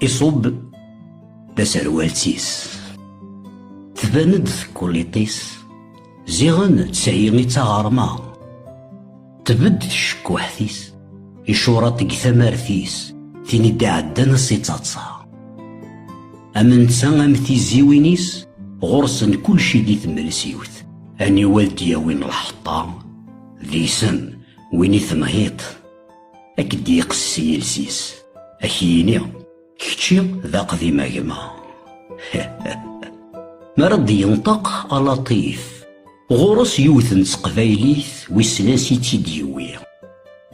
iṣubb taserwalt-is tban-d tekkuliṭ-is ziɣen d tayi i d taɣerma Tbedd tcekkuḥt-is, icureṭ deg tamart-is, tin i d-iɛeddan ass ittaḍsa. Am netta am tiziwin-is, ɣur-sen kulci di tmelsiwt. Aniwa i d-yawin lḥeṭṭa, d isem win i tenhiḍ. Ad k-d-yeqssi iles-is, ad k-yini, kečči d aqdim a gma. Mi ara d-yenṭeq a Latif, Ɣur-s yiwet n teqbaylit wissen ansi i tt-id-yewwi.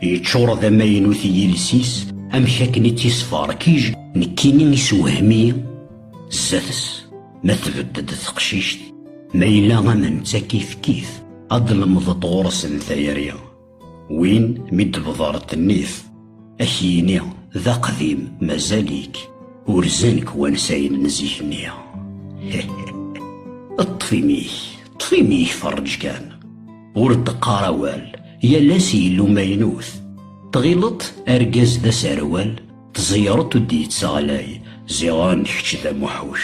Yeččur d amaynut i yiles-is, amek akken i tt-yesferkij, nekkini isewhem-iyi zdat-s. Ma tbedd-d teqcict, ma yella am netta kifkif, ad d-lemḍeḍ ɣur-sen tayri. Win mi d-tebḍer ddnit, ad k-yini d aqdim mazal-ik urzen-k wansayen n zik-nni. Ṭṭef imi-k, ṭṭef imi-k ferreǧ kan. Ur d-qqar awal, yal ass yellu maynut. Tɣileḍ argaz d aserwal, tẓeyreḍ ur d-yettaɣlay, ziɣen kečč d amuḥuc.